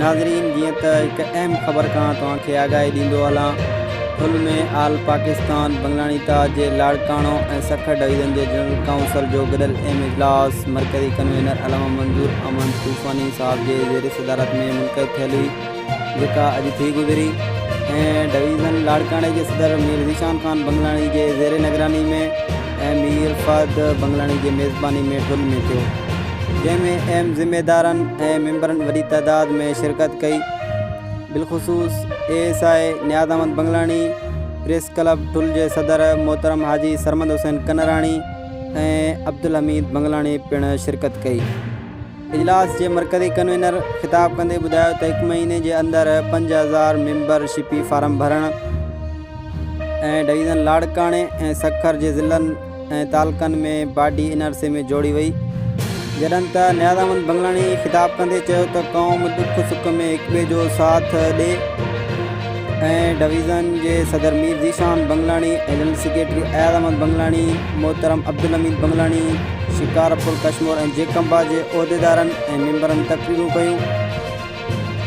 ناظرين جيئن ته هڪ اهم خبر کان توهان کي آگاهي ڏيندو هلان ٿل ۾ آل پاڪستان بنگلانيتا جي لاڙڪاڻو ۽ سکر ڊويزن جي جنرل ڪائونسل جو گڏيل اهم اجلاس مرڪزي ڪنوينر علامه منظور احمد طوفاني صاحب جي زير صدارت ۾ منعقد ٿيل جيڪا اڄ ٿي گذري ۽ ڊويزن لاڙڪاڻي جي صدر مير ذيشان خان بنگلاڻي جي زير نگراني ۾ ۽ مير فهد بنگلاڻي جي ميزباني ۾ ٺل ۾ ٿيو جنهن ۾ اهم ذميدارن ۽ ميمبرن وڏي تعداد ۾ شرڪت ڪئي بالخصوص A S I Niaz Ahmed Bangalani press club Thul جي صدر محترم حاجي سرمد حسين ڪنراڻي ۽ عبدالحميد بنگلاڻي پڻ شرڪت ڪئي. اجلاس جي مرڪزي ڪنوينر خطاب ڪندي ٻڌايو ته هڪ مهيني جي اندر پنج هزار ميمبر شپي فارم ڀرڻ ۽ ڊويزن لاڙڪاڻي ۽ سکر جي ضلعن ۽ تعلقن ۾ باڊي ان عرصي ۾ جوڙي وئي جڏهن ته نياز احمد بنگلاڻي خطاب ڪندي چيو ته قوم ڏک سک ۾ هڪٻئي جو ساٿ ڏي. ۽ ڊويزن جي صدر مير ذيشان بنگلاڻي، ايڊهن سيڪريٽري اياز احمد بنگلاڻي، محترم عبدالحميد بنگلاڻي، شڪارپور ڪشمور ۽ جيڪمبا جي عهديدارن ۽ ميمبرن تقريرون ڪيون.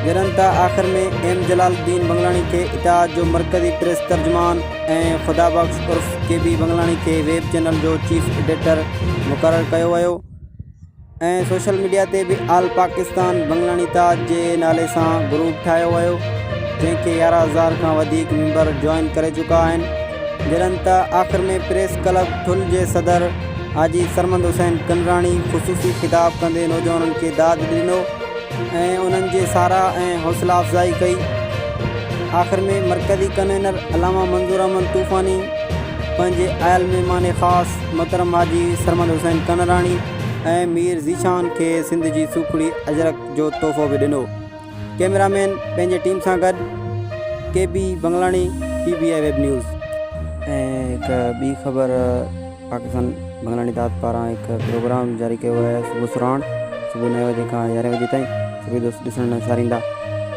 جڏھن ته آخر ۾ ايم جلال الدين بنگلاڻي کي اتحاد جو مرڪزي پريس ترجمان ۽ خدا بخش عرف ڪي بي بنگلاڻي کي ويب چينل جو چيف ايڊيٽر مقرر ڪيو ويو. ۽ سوشل ميڊيا تي به آل پاڪستان بنگلاڻي تاج جي نالي سان گروپ ٺاهيو ويو جنهن کي يارهن هزار کان وڌيڪ ميمبر جوائن ڪري چڪا آهن جڏهن ته آخر ۾ پريس ڪلب ٺل جي صدر حاجي سرمند حسين ڪنراڻي خصوصي خطاب ڪندي نوجوانن کي داد ڏنو ۽ انهن جي ساراهه ۽ حوصلا افزائي ڪئي آخر ۾ مرڪزي ڪنوينر علامه منظور احمد طوفاني پنهنجي آيل مهمان خاص محترم حاجي سرمند حسين ڪنراڻي ۽ مير ذيشان کي سنڌ جي سوکڙي اجرڪ جو تحفو به ڏنو. ڪيمرا مين پنهنجي ٽيم سان گڏ K B Bangalani P B I web news. ۽ هڪ ٻي خبر پاڪستان بنگلاڻي داد پاران هڪ پروگرام جاري ڪيو ويو آهي صبح سرهاڻ صبح نوي وجي کان يارهين وجي تائين سڀئي دوست ڏسڻ لاء ساريندا.